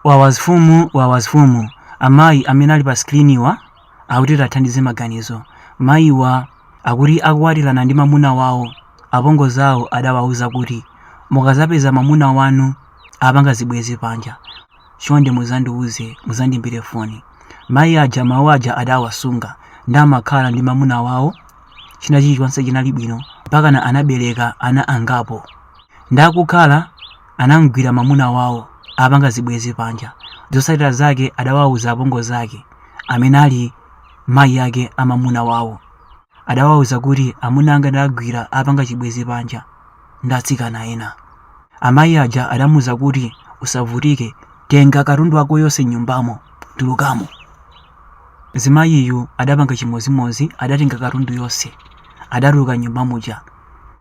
Wawazfumu Wawazfumu Amayi amene ali pa screen-wa akuti tathandize maganizo. Mayiwa akuti akukwatirana ndi mamuna wawo apongozi awo adawauza kuti mukazapeza mamuna wanu apanga zibwezi panja chonde muzandiuze muzandiimbire foni. Mayi aja mawu aja adawasunga ndi amakhala ndi mamuna wawo china chilichonse chinali bwino mpakana anabereka ana angapo. Ndi kukhala anamgwira mamuna wawo apanga zibwezi panja zotsatira zake adawauza apongozi ake amene ali mayi ake a mamuna wawo adawauza kuti amuna anga ndawagwira apanga chibwezi panja ndi atsikana ena amayi aja adamuuza kuti usavutike tenga katundu wako yonse mnyumbamo tulukamo Mzimayiyu adapanga chimodzimodzi adatenga katundu yonse adatuluka mnyumba muja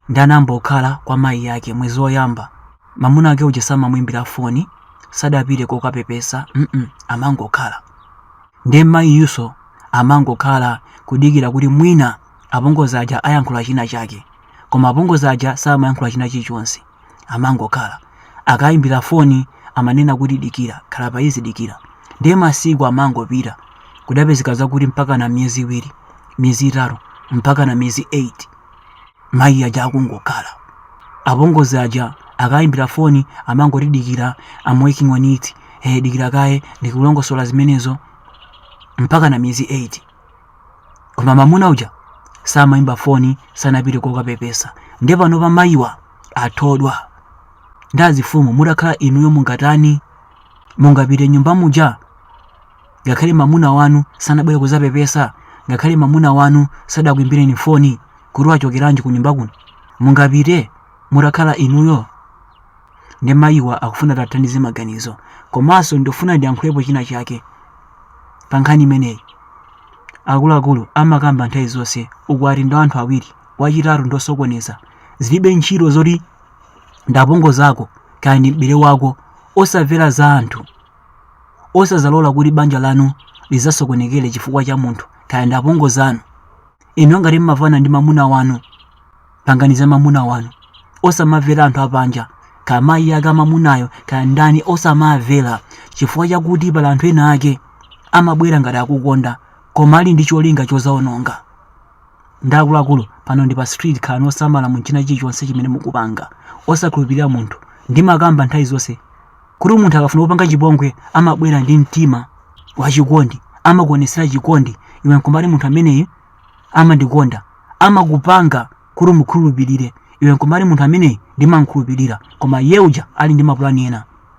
ndi anayamba kukhala kwa mayi ake mwezi oyamba mamuna wake uja samamuimbira foni sadapite kokapepesa mm amangokhala ndiye mmayiyuso amangokhala kudikira kuti mwina apongozi aja ayankhula china chake koma apongozi aja samayankhula china chilichonse amangokhala akayimbira foni amanena kuti dikira khala pa easy dikira ndiye masiku amangopita kudapezeka zakuti mpakana miyezi iwiri miyezi itatu mpakana miyezi 8 mayi aja akungokhala apongozi aja akayimbira foni amangoti dikira I'm working on it eh dikira kaye ndikulongosola zimenezo mpakana miyezi 8 koma mamuna uja samayimba foni sanapite kokapepesa nde panopa mayiwa athodwa nde azifumu mutakhala inuyo mungatani mungapite mnyumba muja ngakhale mamuna wanu sanabwere kuzapepesa ngakhale mamuna wanu sadakuimbireni foni kuti wachokeranji ku nyumba kuno mungapite mutakhala inuyo nde mayiwa akufuna tathandize maganizo komanso ndifuna ndiyankhulepo china chake pa nkhani imeneyi. Akuluakulu amakamba nthawi zonse ukwati ndi wa anthu awiri, wachitatu ndi osokoneza. Zilibe ntchito zoti ndi apongozi ako kaya ndi m'bale wako. Osamvera za anthu. Osadzalola kuti banja lanu lidzasokonekere chifukwa cha munthu kaya ndi apongozi anu. inuyo ngati mmavana ndi mamuna wanu pangani za mamuna wanu osamamvera anthu apanja kaya mayi ake a mamunayo kaya ndani osamamvera chifukwa chakuti pali anthu ena ake amabwera ngati akukonda koma ali ndi cholinga chozaononga nde akuluakulu pano ndi pa street khalani osamala mu china chilichonse chimene mukupanga osakhulupirira munthu ndimakamba nthawi zonse kuti munthu akafuna kupanga chipongwe amabwera ndi mtima wachikondi amakuonetsera chikondi iwe nkumati munthu ameneyu amandikonda amakupanga kuti umukhulupirire iwe nkumati munthu ameneyu ndimamkhulupirira koma iye uja ali ndi mapulani ena